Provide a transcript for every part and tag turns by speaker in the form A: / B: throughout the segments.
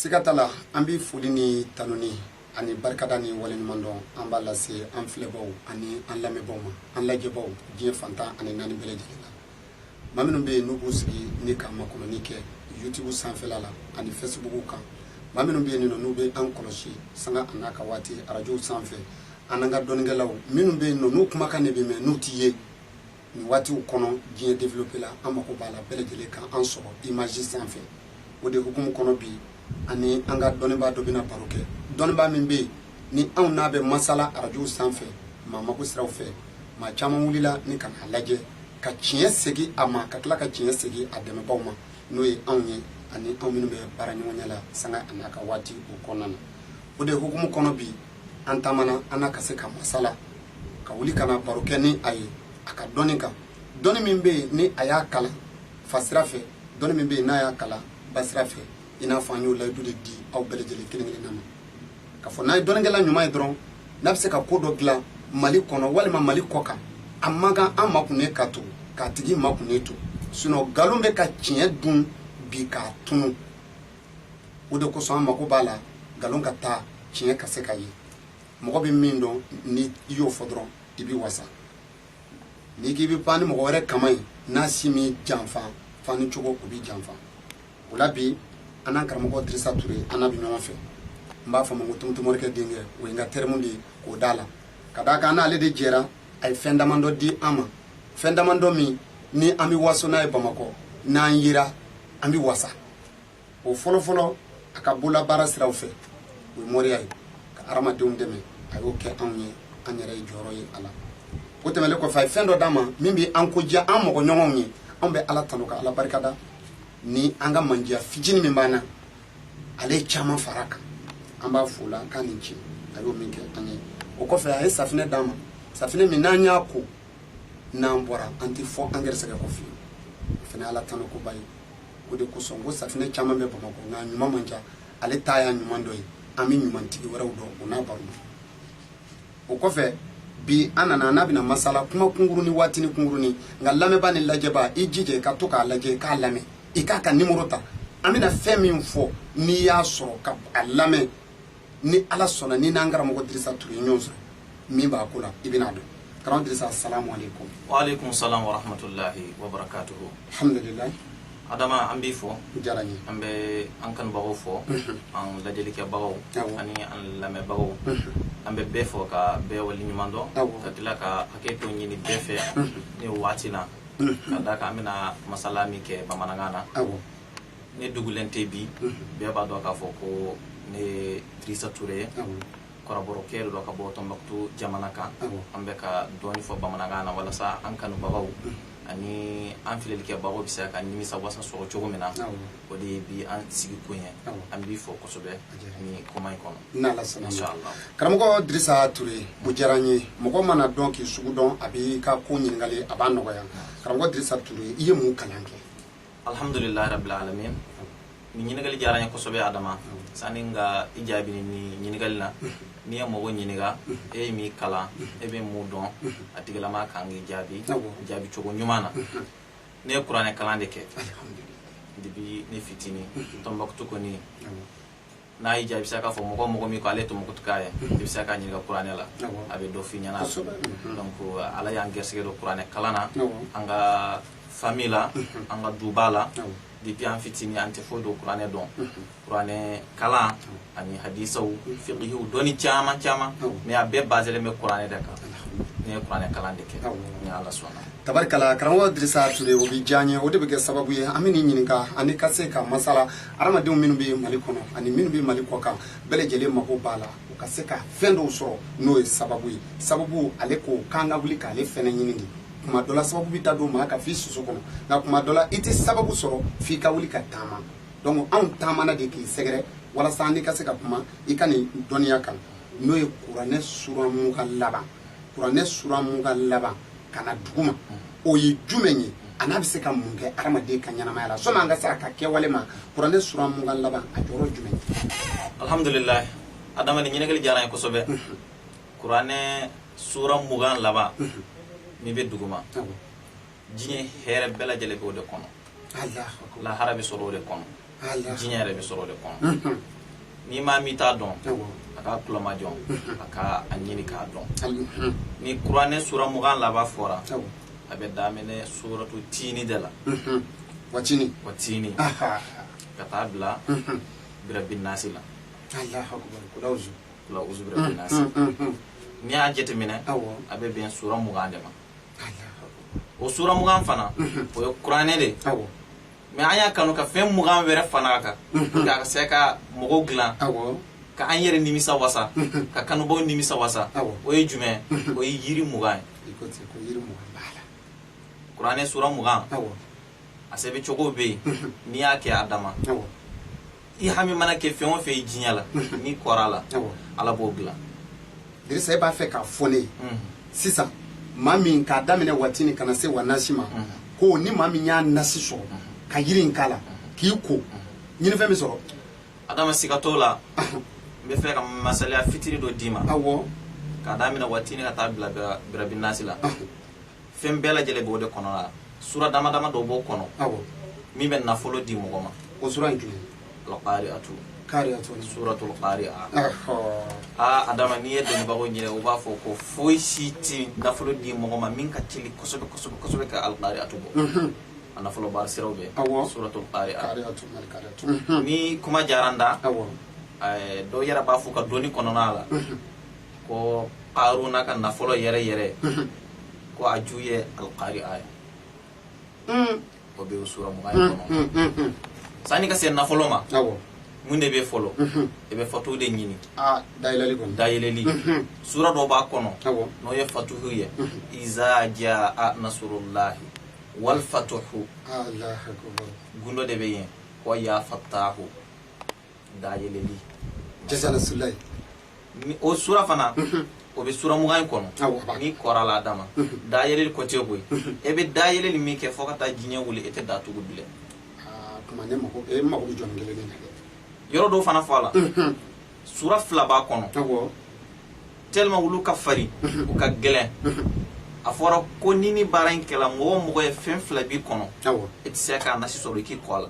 A: siga t'a la an bɛ foli ni tanuni ani barikada ni waleɲuman dɔn an b'a lase an filɛbaw ani an lamɛnbaw ma an lajɛbaw diɲɛ fantan ani naani bɛɛ lajɛlen na maa minnu bɛ yen n'u b'u sigi ni ka makɔnɔni kɛ youtube sanfɛla la ani facebook kan maa minnu bɛ yen nɔ n'u bɛ an kɔlɔsi sanga a n'a ka waati arajow sanfɛ an n'an ka dɔnnikɛlaw minnu bɛ yen nɔ n'u kumakan de bɛ mɛn n'u tɛ ye nin waatiw kɔnɔ diɲɛ développé la an mako b'a la bɛɛ lajɛlen ka an sɔrɔ image sanfɛ o de hukumu kɔnɔ bi ani an ka dɔnnibaa dɔ bɛna baro kɛ dɔnnibaa min bɛ ni anw n'a bɛ masala arajow sanfɛ maa mako siraw fɛ maa caman wulila ni ka n'a lajɛ ka tiɲɛ segin a ma ka tila ka tiɲɛ segin a dɛmɛbaaw ma n'o ye anw ye ani anw minnu bɛ baara ɲɔgɔnya la sanga a n'a ka waati o kɔnɔna na o de hukumu kɔnɔ bi an taamana an n'a ka se ka masala ka wuli ka na baro kɛ ni a ye a ka dɔnni kan dɔnni min bɛ yen ni a y'a kalan fa sira fɛ dɔnni min bɛ yen n'a y'a kalan ba sira fɛ i n'a fɔ an y'o layidu de di aw bɛɛ lajɛlen kelen kelen na ma k'a fɔ n'an ye dɔnnikɛla ɲuman ye dɔrɔn n'a bɛ se ka ko dɔ dilan mali kɔnɔ walima mali kɔ kan a man kan an makunnen ka to k'a tigi makunnen to sinon nkalon bɛ ka tiɲɛ dun bi k'a tunu o de kosɔn an mako b'a la nkalon ka taa tiɲɛ ka se ka ye mɔgɔ bɛ min dɔn ni i y'o fɔ dɔrɔn i bɛ wasa n'i k'i bɛ pan ni mɔgɔ wɛrɛ kaman ye n'a si min janfa fani cogo o b'i janfa o la bi an n'an karamɔgɔ dirisa ture an n'a bɛ ɲɔgɔn fɛ n b'a fɔ ma ko tumutumorikɛ denkɛ o ye n ka terme de ye k'o d'a la ka d'a kan an n'ale de jɛra a ye fɛn damadɔ di an ma fɛn damadɔ min ni an bɛ waso n'a ye bamakɔ n'an yera an bɛ wasa o fɔlɔfɔlɔ a ka bolabaara siraw fɛ o ye moriya ye ka hadamadenw dɛmɛ a y'o kɛ anw ye an yɛrɛ ye jɔyɔrɔ ye a la o tɛmɛlen kɔfɛ a ye fɛn dɔ d'an ma min bɛ an ko diya an mɔgɔ ɲɔgɔnw ye anw bɛ ala tanu ka ala barikada ni an ka mandiya fitinin min b'an na ale ye caman fara kan an b'a fo la k'a ni ce a y'o min kɛ an ye o kɔfɛ a ye safinɛ d'an ma safinɛ min n'an y'a ko n'an bɔra an tɛ fɔ an gɛrɛsɛgɛ kɔ fiyewu o fana ye ala tanu koba ye o de kosɔn ko safinɛ caman bɛ bamakɔ nka a ɲuman man ca ale ta y'a ɲuman dɔ ye an bɛ ɲumantigi wɛrɛw dɔn o n'a baro o kɔfɛ bi an nana n'a bɛna masala kuma kunkuruni waatini kunkuruni nka lamɛnba ni lajɛba i jija i ka to k'a lajɛ i k'a lamɛn i k'a ka nimoro ta an bɛna fɛn min fɔ n'i y'a sɔrɔ ka a lamɛn ni ala sɔnna ni n'an karamɔgɔ dirisa ture ye ɲɔgɔn sɔrɔ min b'a ko la i bɛna dɔn karamɔgɔ dirisa asalamu aleykum waaleykum salam wa
B: rahmatulahi wa barakatuhu alhamdulillah
A: adama an
B: b'i fo a diyara n ye an bɛ
A: an
B: kanubagaw fo an lajɛlikɛbagaw ani an lamɛnbagaw an bɛ bɛɛ fo ka bɛɛ waleɲuman dɔn ka tila ka hakɛto ɲini bɛɛ fɛ ni waati na ka d'a kan an bɛna masala min kɛ bamanankan na ne dugulen tɛ bi bɛɛ b'a dɔn k'a fɔ ko ne ye dirisa ture ye kɔrɔbɔrɔkɛ de don ka bɔ tɔnbaktu jamana kan an bɛ ka dɔɔni fɔ bamanankan na walasa an kanubagaw ani an filɛlikɛbagaw bɛ se ka nimisa wasa sɔrɔ cogo min na o de ye bi an sigi kun ye an b'i fo kosɛbɛ nin kuma in
A: kɔnɔ karamɔgɔ dirisa ture o diyara n ye mɔgɔ mana dɔn k'i sugu dɔn a b'i ka ko ɲininkali a b'a nɔgɔya karamɔgɔ dirisa ture i ye mun kalan kɛ
B: alhamdulillah rabbil alamin ni ɲininkali diyara n ye kosɛbɛ adama sani n ka i jaabi ni ɲininkali la n'i ye mɔgɔ ɲininka e ye min kalan e bɛ mun dɔn a tigilamaa kan k'i jaabi jaabi cogo ɲuman na ne ye kuranɛ kalan de kɛ depuis ne fitinin tɔnbakutu kɔni n'a y'i diya i bɛ se k'a fɔ mɔgɔ mɔgɔ min ko ale tumukutuka ye i bɛ se k'a ɲininka kuranɛ la a bɛ dɔ f'i ɲɛna donc ala y'an gɛrisɛgɛ don kuranɛ kalan na an ka famille la an ka duba la depuis an fitinin an tɛ foyi dɔn kuranɛ dɔn kuranɛ kalan ani hadisaw fiqihiw dɔnni caman caman mais a bɛɛ baselen bɛ kuranɛ de kan ne ye kuranɛ kalan de kɛ ni ala sɔnna tabarikala karamɔgɔ
A: dirisa ture o bɛ diya n ye o de bɛ kɛ sababu ye an bɛn'i ɲininka ani ka se ka masala hadamadenw minnu bɛ mali kɔnɔ ani minnu bɛ mali kɔ kan bɛɛ lajɛlen mago b'a la u ka se ka fɛn dɔw sɔrɔ n'o ye sababu ye sababu ale ko k'an ka wuli k'ale fɛnɛ ɲini de kuma dɔ la sababu bɛ taa don maa kan f'i siso kɔnɔ nka kuma dɔ la i tɛ sababu sɔrɔ f'i ka wuli ka taama donc anw taamana de k'i sɛgɛrɛ walasa n'i ka se ka kuma i ka nin dɔnniya kan n'o ye kuranɛ sura mugan laban kuranɛ sura mugan laban ka na duguma o ye jumɛn ye an'a bɛ se ka mun kɛ adamaden ka ɲɛnamaya la sɔni an ka se a ka kɛwale ma kuranɛ sura mugan laban a jɔyɔrɔ jumɛn ye alhamdulilayi
B: adama ni ɲininkali diyara n ye kosɛbɛ kuranɛ sura mugan laban min bɛ duguma diɲɛ hɛrɛ bɛɛ lajɛlen bɛ o de kɔnɔ lahara bɛ sɔrɔ o de kɔnɔ diɲɛ yɛrɛ bɛ sɔrɔ o de kɔnɔ ni maa min t'a dɔn a k'a tulomajɔ a ka a ɲini k'a dɔn ni kuranɛ sura mugan laban fɔra a bɛ daminɛ suratu tiini de la watini
A: watini
B: ka taa bila birabin nasi
A: la kul awuzu
B: birabin nasi n'i y'a jateminɛ a bɛ bɛn sura mugan de ma o sura mugan fana o ye kuranɛ de mais an y'a kanu ka fɛn mugan wɛrɛ fara a kan mhm. ka se ka mɔgɔw dilan ka an yɛrɛ nimisa wasa mhm. ka kanubaw nimisa wasa o ye jumɛn mhm. o ye yiri mugan ye kuranɛ sura mugan a sɛbɛ cogo bɛ yen n'i y'a kɛ adama i hami mana kɛ fɛn o fɛn ye diɲɛ la n'i kora a la ala b'o dilan dirisa e
A: b'a fɛ k'a fɔ ne ye sisan maa min k'a daminɛ watini ka na se wanasi ma ko ni maa min y'a nasi sɔrɔ ka yiri in k'a la k'i ko ɲinifɛn bɛ sɔrɔ adama siga
B: t'o la n bɛ fɛ ka masaliya fitini dɔ d'i ma awɔ k'a daminɛ watini ka taa bila birabi nasi la fɛn bɛɛ lajɛlen b'o de kɔnɔ la sura dama dama dɔ b'o kɔnɔ awɔ min bɛ nafolo di mɔgɔ ma o sura in
A: kelen alqari'atu
B: qari'atu suratul qari'a aa adama n'i ye dɔnnibagaw ɲini u b'a fɔ ko foyi si tɛ nafolo di mɔgɔ ma min ka teli kosɛbɛ kosɛbɛ kosɛbɛ ka alqari'atu bɔ mhm. a nafolo baara siraw bɛ awɔ suratul qari'a mhm. ni kuma diyara n da awɔ dɔw yɛrɛ b'a fɔ ka dɔnni kɔnɔna la mhm. ko karuna ka nafolo yɛrɛ yɛrɛ ko a ju ye alqari'a ye hmm. o bɛ o sura mugan ye hmm, kɔnɔ hmm, sanni ka se nafolo ma mun de bɛ fɔlɔ i bɛ fatuhu de ɲini dayɛlɛli sura dɔ b'a kɔnɔ n'o ye fatuhu ye iza jaa nasurulahi wal fatuhu gundo de bɛ yen ko ya fatahu dayɛlɛli jaa nasurulahi o sura fana o bɛ sura mugan in kɔnɔ n'i kora a la adama dayɛlɛli côté koyi e bɛ dayɛlɛli min kɛ fo ka taa diɲɛ wuli e tɛ datugu bilen yɔrɔ dɔw fana fɔ a la sura fila b'a kɔnɔ tellement olu ka farin u ka gɛlɛn a fɔra ko ni nin baara in kɛla mɔgɔ mɔgɔ ye fɛn fila b'i kɔnɔ i tɛ se k'a nasi sɔrɔ i k'i ko a la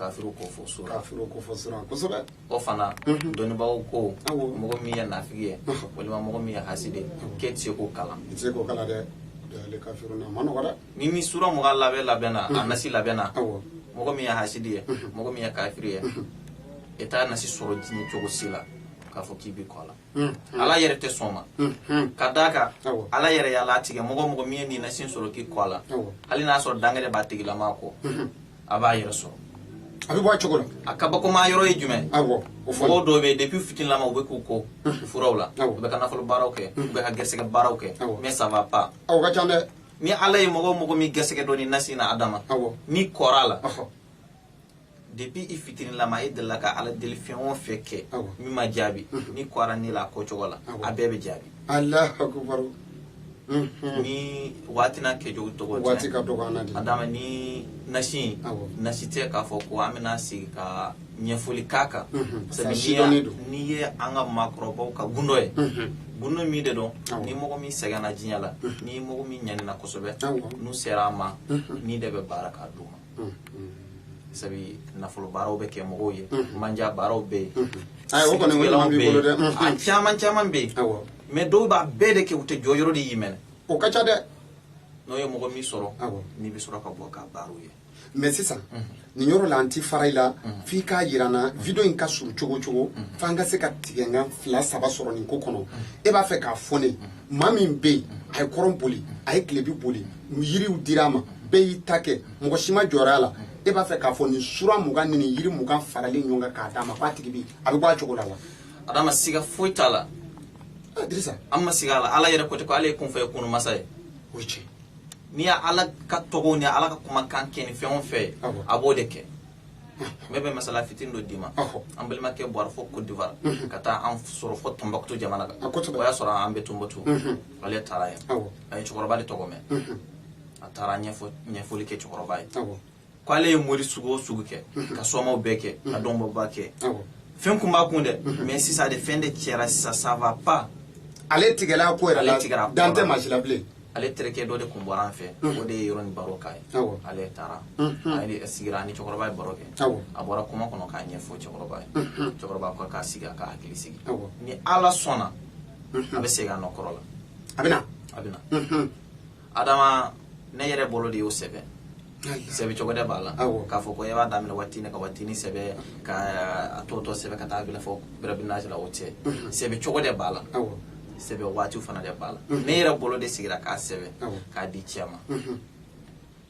A: kafiri ko
B: fɔ sura kafiri ko fɔ sura kosɛbɛ
A: o fana
B: mhm. dɔnnibaaw ko mɔgɔ min ye nafigi ye walima mɔgɔ min ye hasidi k'e tɛ se k'o kalan i tɛ se k'o kalan
A: dɛ alkafiruna ma nɔgɔ dɛ ni nin sura mugan
B: labɛn labɛnna a mhm. nasi labɛnna mɔgɔ min ye hasidi ye mhm. mɔgɔ min ye kafiri ye e t'a nasi sɔrɔ diɲɛ cogo si la k'a fɔ k'i b'i ko a la ala yɛrɛ tɛ sɔn a ma ka d'a kan ala yɛrɛ y'a latigɛ mɔgɔ mɔgɔ min ye nin nasi sɔrɔ k'i ko a la hali n'a sɔrɔ dangɛrɛ b'a tigilama kɔ a b'a yɛrɛ sɔrɔ a bɛ bɔ a cogo
A: la a kabakoma yɔrɔ ye
B: jumɛn mɔgɔw dɔw bɛ depuis fitinilama u bɛ k'u ko furaw la u bɛ ka nafolo baaraw kɛ u bɛ ka gɛrɛsɛgɛ baaraw kɛ mais ça va pas o ka ca dɛ
A: ni ala ye mɔgɔ
B: mɔgɔ min gɛrɛsɛgɛ don nin nasi na adama n'i kora a la depuis i fitininama e delila ka ala deli fɛn o fɛn kɛ min ma jaabi mhm. ni kɛra ne la a kɛcogo la a bɛɛ bɛ jaabi mhm. ni waati n'a kɛcogo tɔgɔ waati ka dɔgɔ an na de
A: adama ni
B: nasi nasi tɛ k'a fɔ ko an bɛna sigi ka ɲɛfɔli k'a kan mhm. sabu n'i ye an ka maakɔrɔbaw ka gundo ye gundo min de don ni mɔgɔ min sɛgɛnna diɲɛ la ni mɔgɔ min ɲanina kosɛbɛ n'u sera an ma ni de bɛ baara k'a d'u ma sabu nafolo baaraw bɛ kɛ mɔgɔw ye mandiya baaraw bɛ yen o kɔni bɛ b'i bolo dɛ a caman caman bɛ yen mais dɔw b'a bɛɛ de kɛ u tɛ jɔ yɔrɔ de y'i minɛ o ka ca dɛ
A: n'o ye mɔgɔ
B: min sɔrɔ n'i bɛ sɔrɔ ka bɔ ka baaraw ye mais
A: sisan nin yɔrɔ la an ti fara i la f'i k'a yira an na video in ka surun cogo cogo f'an ka se ka tigɛkan fila saba sɔrɔ nin ko kɔnɔ e b'a fɛ k'a fɔ ne maa min bɛ yen a ye kɔrɔn boli a ye tilebi boli yiriw dira a ma bɛɛ y'i ta kɛ mɔgɔ si ma jɔra a la e b'a fɛ k'a fɔ nin sura mugan ni nin yiri mugan faralen ɲɔgɔn kan k'a d'a ma k'a tigi bi a bɛ bɔ a cogo la wa adama siga
B: foyi t'a la ah,
A: dirisa an ma siga a
B: la ala yɛrɛ ko ten ko ale ye kun fayakun masa ye o ye
A: tiɲɛ n'i ye ala
B: ka tɔgɔw ni ala ka kumakan kɛ ni fɛn o fɛn ye a b'o de kɛ ne bɛ masala fitini dɔ d'i ma an balimakɛ bɔra fo Côte d'Ivoire ka taa an sɔrɔ fo Tombouctou jamana kan o y'a sɔrɔ an bɛ Tombouctou ale taara yen a ye cɛkɔrɔba de tɔgɔ mɛn a taara ɲɛfɔli kɛ cɛkɔrɔba ye ko ale ye mori sugu o sugu kɛ ka somaw bɛɛ kɛ ka dɔnbɔba kɛ fɛn kun b'a kun dɛ mais sisan de fɛn de cɛra sisan ça va pas ale tigɛla
A: ko yɛrɛ la dannen tɛ maa si la bilen ale terikɛ dɔ de
B: tun bɔra an fɛ o de ye yɔrɔ nin baro k'a ye ale taara a sigira ni cɛkɔrɔba ye baro kɛ a bɔra kuma kɔnɔ k'a ɲɛfɔ cɛkɔrɔba ye cɛkɔrɔba ko k'a sigi a ka hakili sigi ni ala sɔnna a bɛ segin a nɔ kɔrɔ la a bɛ a
A: bɛ na adama
B: ne yɛrɛ bolo de y'o sɛbɛn sɛbɛn cogo de b'a la k'a fɔ ko e b'a daminɛ watini ka watini sɛbɛn ka a tɔ tɔ sɛbɛn ka taa bila fo birabina la o tɛ sɛbɛn cogo de b'a la sɛbɛn waati fana de b'a la ne yɛrɛ bolo de sigira k'a sɛbɛn k'a di cɛ ma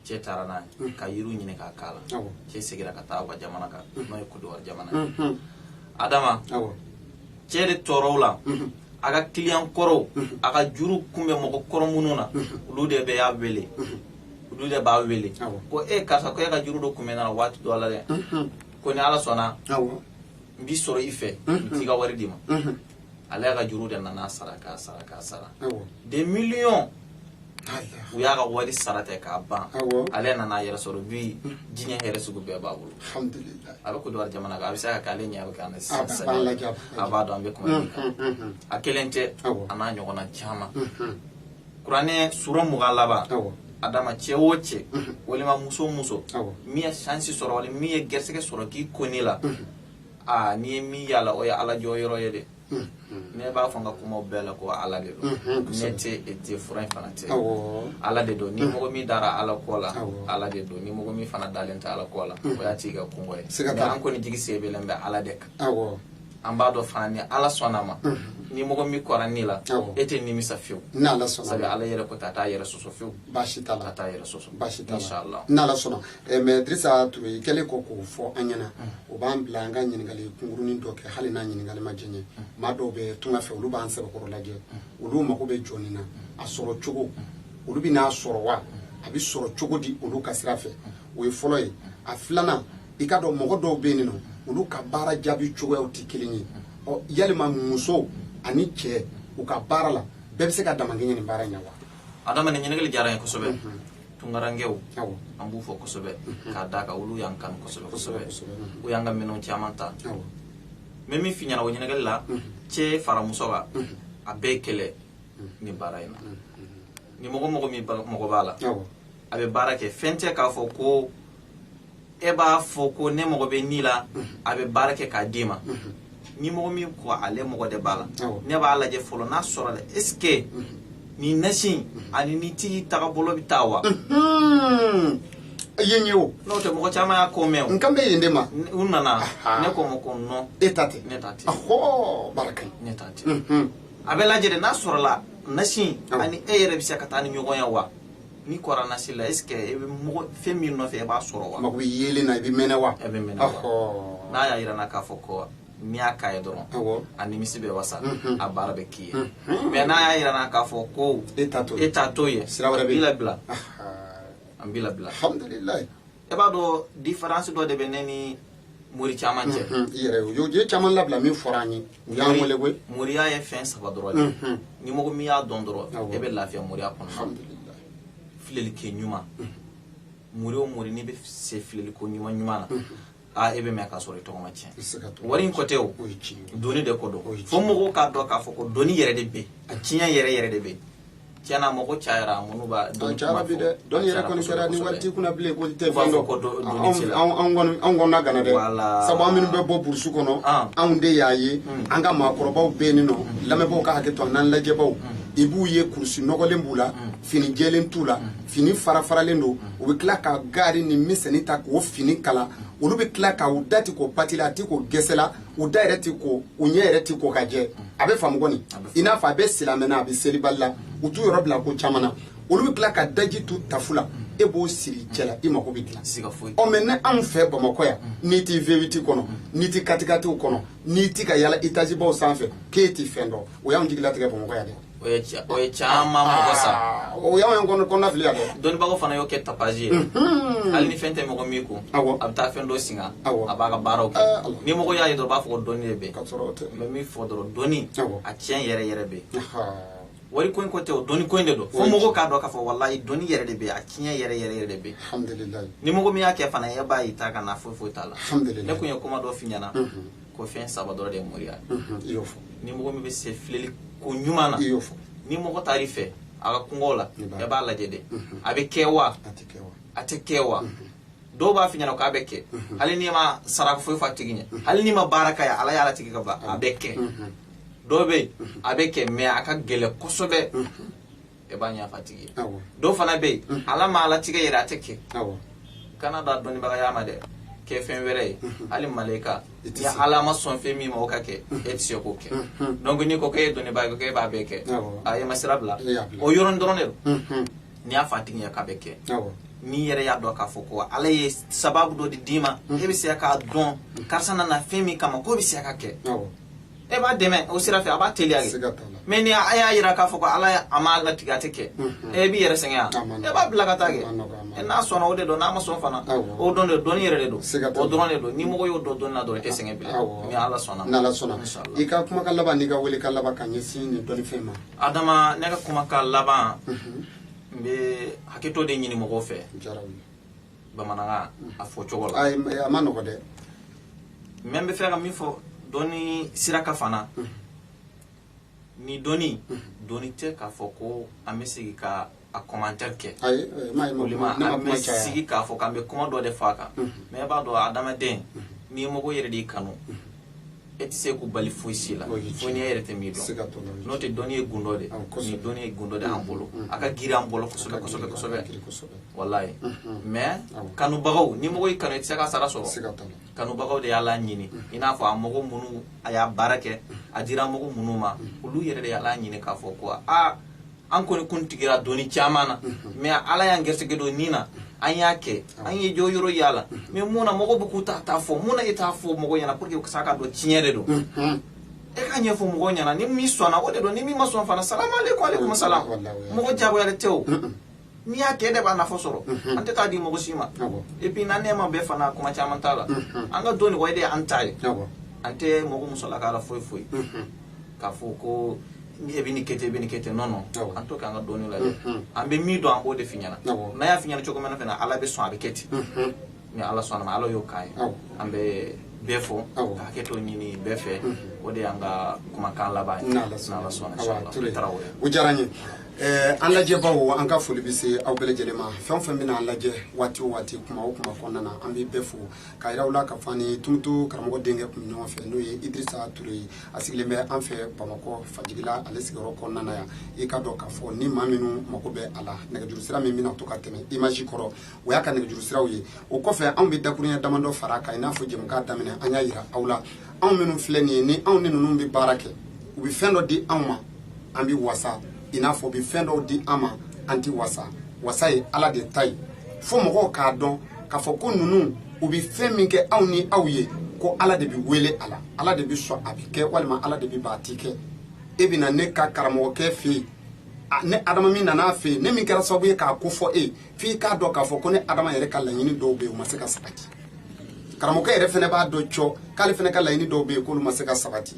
B: cɛ taara n'a ye ka yiriw ɲini k'a k'a la cɛ seginna ka taa u ka jamana kan n'o ye kodowari jamana ye adama cɛ de tora o la a ka kiliyan kɔrɔw a ka juru kun bɛ mɔgɔ kɔrɔ minnu na olu de bɛɛ y'a wele olu de b'a wele ko e karisa ko e ka juru dɔ kun bɛ n na waati dɔ la dɛ ko ni ala sɔnna n b'i sɔrɔ i fɛ n t'i ka wari d'i ma ale y'a ka juru de nana sara k'a sara k'a sara des millions u y'a ka wari sara ten k'a ban ale nana a yɛrɛ sɔrɔ bi diɲɛ hɛrɛ sugu bɛɛ b'a bolo a
A: bɛ kodowari
B: jamana kan a bɛ se ka kɛ ale ɲɛ bɛ an kan sisan a b'a dɔn an bɛ kuma min kan a kelen tɛ a n'a ɲɔgɔnna caman kuranɛ sura mugan laban adama cɛ o cɛ mhm. walima muso o muso min ye sansi sɔrɔ wali min ye gɛrisɛgɛ sɔrɔ k'i ko nin la mhm. aa ni min y'a la o ye ala jɔyɔrɔ ye dɛ mhm. ne b'a fɔ n ka kumaw bɛɛ la ko ala de don ne tɛ e tɛ fura in fana tɛ ala de don ni mɔgɔ min dara ala ko la ala de don ni mɔgɔ min fana dalen tɛ ala ko la o y'a tigi ka kunko ye nka an kɔni jigi sɛmɛlen bɛ ala de kan an b'a dɔn fana ni ala sɔnna ma ni mɔgɔ min kora nin la e tɛ nimisa fiyewu sabu
A: ala yɛrɛ ko a t'a
B: yɛrɛ sɔsɔ fiyewu baasi t'a la t'a yɛrɛ
A: sɔsɔ baasi
B: t'a la
A: n'ala sɔnna
B: eh,
A: mɛ dirisa ture i kɛlen kɔ k'o fɔ an ɲɛna o b'an bila an ka ɲininkali kunkurunin dɔ kɛ hali n'a ɲininkali ma jɛɲɛ maa dɔw bɛ tunga fɛ olu b'an sɛbɛkɔrɔ lajɛ olu mago bɛ jɔ nin na a sɔrɔ cogo olu bɛ n'a sɔrɔ wa a bɛ sɔrɔ cogo di olu ka sira fɛ o ye fɔlɔ ye a filanan i k'a dɔn mɔgɔ dɔw bɛ yen nɔ olu ka baara jaabi cogoyaw tɛ kelen ye ɔ yalima muso ani cɛ u ka baara la bɛɛ bɛ se ka damakɛɲɛ nin baara in na wa adama nin ɲininkali
B: diyara n ye kosɛbɛ mhm. tunkarankɛw an b'u fo kosɛbɛ mhm. k'a d'a kan olu y'an kanu kosɛbɛ kosɛbɛ mhm. u y'an ka minɛnw caman ta mɛ min fi ɲɛna o ɲininkali la cɛ fara muso kan a bɛɛ kelen nin baara in na ni mɔgɔ mɔgɔ min mago b'a la a bɛ baara kɛ fɛn tɛ k'a fɔ ko e b'a fɔ ko ne mago bɛ nin la a bɛ baara kɛ k'a d'i ma ni mɔgɔ min ko ale mago de b'a la ne b'a lajɛ fɔlɔ n'a sɔrɔla est ce que nin nasi ani nin tigi tagabolo bɛ taa wa
A: yen ye o n'o tɛ mɔgɔ caman
B: y'a ko mɛn o n kan bɛ yen de
A: ma u
B: nana ne k'u ma ko non e ta tɛ ne ta
A: tɛ ɔhɔ baara ka ɲi ne ta tɛ
B: a bɛ lajɛ de n'a sɔrɔla nasi ani e yɛrɛ bɛ se ka taa ni ɲɔgɔn ye wa n'i kora nasi la est ce que e bɛ mago fɛn min nɔfɛ e b'a sɔrɔ wa mako bɛ yelen na i bɛ
A: mɛnɛ wa e bɛ mɛn
B: n'a y'a jira n na k'a fɔ ko n'i y'a k'a ye dɔrɔn a nimisi bɛ wasa a baara bɛ k'i ye mɛ n'a y'a jira n na k'a fɔ ko e e ta t'o ye sira wɛrɛ b'i labila an b'i labila
A: e b'a
B: dɔn diferansi dɔ de bɛ ne ni mori caman cɛ i yɛrɛ y'o
A: ye caman labila min fɔra an ye u y'an wele koyi moriya ye fɛn saba
B: dɔrɔn de ye ni mɔgɔ min y'a dɔn dɔrɔn e bɛ lafiya moriya kɔnɔna na alhamdulilayi
A: filɛli
B: kɛ ɲuman mori o mori n'i bɛ se filɛli ko ɲuman ɲuman na a e bɛ mɛɛn k'a sɔrɔ i tɔgɔ ma tiɲɛ i tɛ se ka to wari ko tɛ o o ye tiɲɛ ye dɔnni de ko o ye don tiɲɛ fo mɔgɔw k'a dɔn k'a fɔ ko dɔnni yɛrɛ de bɛ yen a tiɲɛ yɛrɛ yɛrɛ de bɛ yen tiɲɛna mɔgɔ cayara minnu b'a dɔn cayara bi
A: dɛ dɔnni yɛrɛ kɔni kɛra ni wari t'i kunna bilen ko i tɛ fɛn dɔn
B: ko anw kɔnɔna ganna
A: dɛ sabu an minnu bɛ bɔ burusu kɔnɔ anw de y'a ye an ka maakɔrɔbaw bɛ yen nɔ lamɛnbaaw ka hakɛ to an'an lajɛbaaw i b'u ye kurusi nɔgɔlen b'u la fini jɛlen t'u la fini farafaralen don u bɛ tila ka gaari ni miseli ta k'o fini kala olu bɛ tila k'u dati k'o pati la a tɛ k'o gɛsɛ la u da yɛrɛ ti ko u ɲɛ yɛrɛ ti ko ka jɛ a bɛ faamu kɔni i n'a fɔ a bɛ silamɛ na a bɛ selibali la u t'u yɔrɔ bila ko caman na olu bɛ tila ka daji tu tafu la e b'o siri cɛ la i mago bɛ dilan ɔ mɛ ne anw fɛ bamakɔ yan n'i ti vewiti kɔnɔ n'i ti katikatiw kɔnɔ n'i ti ka yaala etazibaw sanfɛ k'e ti fɛn dɔn o y'anw jigilatigɛ bamakɔ yan dɛ O ye
B: ca- o ye caman mɔgɔ sa Ah, o y'anw y'an kɔnɔ
A: kɔnɔnafili yan dɛ dɔnnibagaw fana y'o kɛ
B: tapazi ye Mhm. hali ni fɛn tɛ mɔgɔ min kun Awɔ. a bɛ taa fɛn dɔ singa Awɔ. a b'a ka baaraw kɛ Ah, Ala. ni mɔgɔ y'a ye dɔrɔn u b'a fɔ ko dɔnni de bɛ k'a sɔrɔ o tɛ n bɛ min fɔ
A: dɔrɔn
B: dɔnni Awɔ. a tiɲɛ yɛrɛ yɛrɛ bɛ yen Ahaa. wari ko in ko tɛ o dɔnni ko in de don fo Oui. mɔgɔw k'a dɔn k'a fɔ walayi dɔnni yɛrɛ de bɛ yen a tiɲɛ yɛrɛ yɛrɛ yɛrɛ de bɛ yen alhamdulilayi ni mɔgɔ
A: min y'a kɛ fana
B: e b'a ye taa ka na foyi foyi t'a la Alhamdulillah. ne kun ye kuma
A: dɔ f'i ɲɛna
B: Mhm. ko fɛn saba dɔrɔn de ye moriya i y'o fɔ
A: ni mɔgɔ min bɛ
B: se filɛli ko ɲuman na i y'o fɔ ni mɔgɔ
A: taar'i fɛ
B: a ka kunkow la e b'a lajɛ dɛ a bɛ kɛ wa a tɛ kɛ wa dɔw b'a f'i ɲɛna k'a bɛ kɛ hali n'i ma saraka foyi fɔ a tigi ɲɛ hali n'i ma baara k'a ye ala y'a latigɛ ka ban a bɛ kɛ dɔw bɛ yen a bɛ kɛ mɛ a ka gɛlɛ kosɛbɛ e b'a ɲɛfɔ a tigi ye dɔw fana bɛ yen mhm. ala m'a latigɛ yɛrɛ a tɛ kɛ kan'a da dɔnnibagaya ma dɛ kɛ fɛn wɛrɛ ye mhm. hali malayika ni ala ma sɔn fɛn min ma o ka kɛ mhm. e tɛ se k'o kɛ donc n'i ko k'e ye dɔnnibaa ye k'e b'a bɛɛ kɛ a ye ma sira bila o yɔrɔnin dɔrɔn de don n'i y'a fɔ a tigi ɲɛ k'a bɛ kɛ n'i yɛrɛ y'a dɔn k'a fɔ ko ala ye sababu dɔ de d'i ma e bɛ se k'a dɔn karisa nana fɛn min kama k'o bɛ se ka kɛ e b'a dɛmɛ o sira fɛ a b'a teliya de mɛ ni a y'a yira k'a fɔ ko ala a m'a latigɛ a tɛ kɛ e b'i yɛrɛ sɛgɛn e b'a bila ka taa kɛ n'a sɔnna o de don n'a ma sɔn fana o don dɛ dɔnni yɛrɛ de don o dɔrɔn de don ni mɔgɔ y'o dɔn dɔnni na dɔrɔn i tɛ sɛgɛn bilen ni ala sɔnna n'ala sɔnna
A: i ka kuma ka laban n'i ka wele ka laban ka ɲɛsin nin dɔnni fɛn ma adama ne ka
B: kuma ka laban n bɛ hakɛto de ɲini mɔgɔw fɛ bamanankan a fɔ cogo la a man nɔgɔ
A: dɛ
B: mɛ n b'a fɛ ka min fɔ dɔnni sira kan fana ni dɔnni dɔnni tɛ k'a fɔ ko an bɛ sigi ka a commentaire kɛ
A: olima an bɛ
B: sigi k'a fɔ k'an bɛ kuma dɔ de fɔ a kan mɛ e b'a dɔn adamaden ni mɔgɔ yɛrɛ de y'i kanu e tɛ se k'u bali foyi si la fo n'i yɛrɛ tɛ min dɔn n'o tɛ dɔnni ye gundo de ni dɔnni ye gundo de an bolo a ka girin an bolo kosɛbɛ kosɛbɛ kosɛbɛ walayi mais kanubagaw ni mɔgɔ y'i kanu i tɛ se k'a sara sɔrɔ kanubagaw de y'a laɲini i n'a fɔ a mɔgɔ minnu a y'a baara kɛ a dira mɔgɔ minnu ma olu yɛrɛ de y'a laɲini k'a fɔ ko aa an kɔni kun tigira dɔnni caman na mɛ ala y'an gɛrɛsɛgɛ don nin na an y'a kɛ an ye jɔyɔrɔ y'a la mɛ mun na mɔgɔw bɛ k'u ta ta fɔ mun na e t'a fɔ mɔgɔ ɲɛna pour que sa k'a dɔn tiɲɛ de don e k'a ɲɛfɔ mɔgɔ ɲɛna ni min sɔnna o de don ni min ma sɔn fana salamu aleykum aleykum salam mɔgɔ jagoyalen tɛ o min y'a kɛ de b'a nafa sɔrɔ an tɛ taa di mɔgɔ si ma et puis na nɛma bɛɛ fana kuma caman t'a la an ka dɔnni de an ta ye an tɛ mɔgɔ musalaka la foyi foyi k'a fɔ ko ni e bɛ nin kɛ ten bɛ nin kɛ ten non non en tout cas an ka dɔnni la an bɛ min dɔn an b'o de f'i ɲɛna n'an y'a f'i ɲɛna cogo min na fana ala bɛ sɔn a bɛ kɛ ten ni ala sɔnna ala y'o k'a ye an bɛ bɛɛ fo ka hakɛto ɲini bɛɛ fɛ o de y'an ka kumakan laban ye n'ala sɔnna o diyara n ye
A: eh, an lajɛbaw an ka foli bɛ se aw bɛɛ lajɛlen ma fɛn o fɛn bɛna an lajɛ waati o waati kuma o kuma kɔnɔna na an bɛ bɛɛ fo k'a yira u la k'a fɔ an ni tumutu karamɔgɔ denkɛ tun bɛ ɲɔgɔn fɛ n'o ye idirisa ture ye a sigilen bɛ an fɛ bamakɔ fajigila ale sigiyɔrɔ kɔnɔna na yan i k'a dɔn k'a fɔ ni maa minnu mago bɛ a la nɛgɛjuru sira min bɛna to ka tɛmɛ image kɔrɔ o y'a ka nɛgɛjuru siraw ye o kɔfɛ anw bɛ dakurunya damadɔ fara a kan i n'a fɔ jɛmukan daminɛ an y'a yira aw la anw minnu filɛ nin ye ni anw ni ninnu bɛ baara kɛ u bɛ fɛn dɔ di anw ma an bɛ wasa i n'a fɔ u bɛ fɛn dɔw di an ma an tɛ wasa wasa ye ala de ta ye fo mɔgɔw k'a dɔn k'a fɔ ko ninnu u bɛ fɛn min kɛ anw ni aw ye ko ala de bɛ wele a la ala de bɛ sɔn a bɛ kɛ walima ala de bɛ ban a ti kɛ e bɛ na ne ka karamɔgɔkɛ fɛ yen ne adama min nana a fɛ yen ne min kɛra sababu ye k'a ko fɔ e ye f'i k'a dɔn k'a fɔ ko ne adama yɛrɛ ka laɲini dɔw bɛ yen o ma se ka sabati karamɔgɔkɛ yɛrɛ fana b'a dɔn cɔ k'ale fana ka laɲini dɔw bɛ yen k'olu ma se ka sabati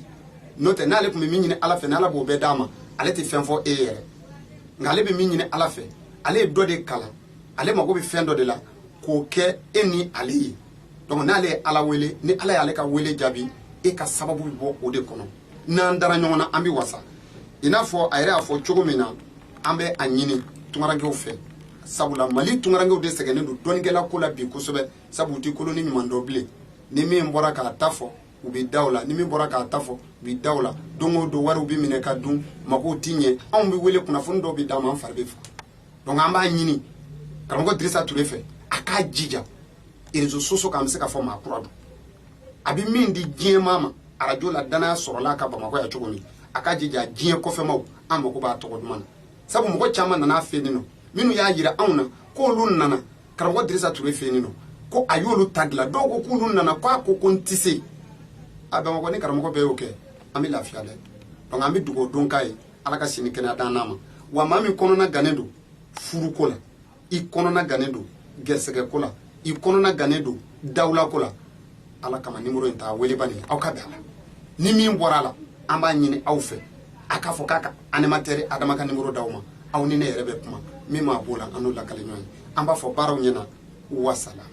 A: n'o tɛ n'ale tun bɛ min ɲini ala fɛ n'ala b'o bɛɛ d'a ma ale tɛ fɛn fɔ e yɛrɛ nka ale bɛ min ɲini ala fɛ ale ye dɔ de kalan ale mago bɛ fɛn dɔ de la k'o kɛ e ni ale ye donc n'ale ye ala wele ni ala y'ale ka wele jaabi e ka sababu bɛ bɔ o de kɔnɔ n'an dara ɲɔgɔn na an bɛ wasa i n'a fɔ a yɛrɛ y'a fɔ cogo min na an bɛ a ɲini tungarankew fɛ sabula mali tungarankew de sɛgɛnnen don dɔnnikɛla ko la bi kosɛbɛ sabu u tɛ kolon ni ɲuman dɔn bilen ni min bɔra k'a ta fɔ u bɛ da o la ni min bɔra k'a ta fɔ u bɛ da o la don o don wariw bɛ minɛ ka dun magow ti ɲɛ anw bɛ wele kunnafoni dɔw bɛ d'an ma an fari bɛ faga donc an b'a ɲini karamɔgɔ dirisa ture fɛ a k'a jija réseaux sociaux kan an bɛ se ka fɔ maa kura don a bɛ min di diɲɛmaa ma arajo la dannaya sɔrɔla a kan bamakɔ yan cogo min a k'a jija diɲɛ kɔfɛmaw an mago b'a tɔgɔ duman na sabu mɔgɔ caman nana a fɛ yen nɔ minnu y'a jira anw na k'olu nana karamɔgɔ dirisa ture fɛ yen nɔ ko a y'olu ta dilan dɔw ko k'olu nana ko a ko ko n tɛ se a bamakɔ ni karamɔgɔ bɛɛ y'o kɛ an bɛ lafiya dɛ donc an bɛ dugawu dɔ k'a ye ala ka si ni kɛnɛya d'an n'a ma wa maa min kɔnɔna gannen don furuko la i kɔnɔna gannen don gɛrisɛgɛ ko la i kɔnɔna gannen don dawula ko la ala kama nimoro in ta wele bani aw ka bɛn a la ni min bɔra a la an b'a ɲini aw fɛ a k'a fɔ k'a ka animatɛri adama ka nimoro d'aw ma aw ni ne yɛrɛ bɛ kuma min ma b'o la an n'o lakali ɲɔgɔn ye an b'a fɔ baaraw ɲɛna wasalam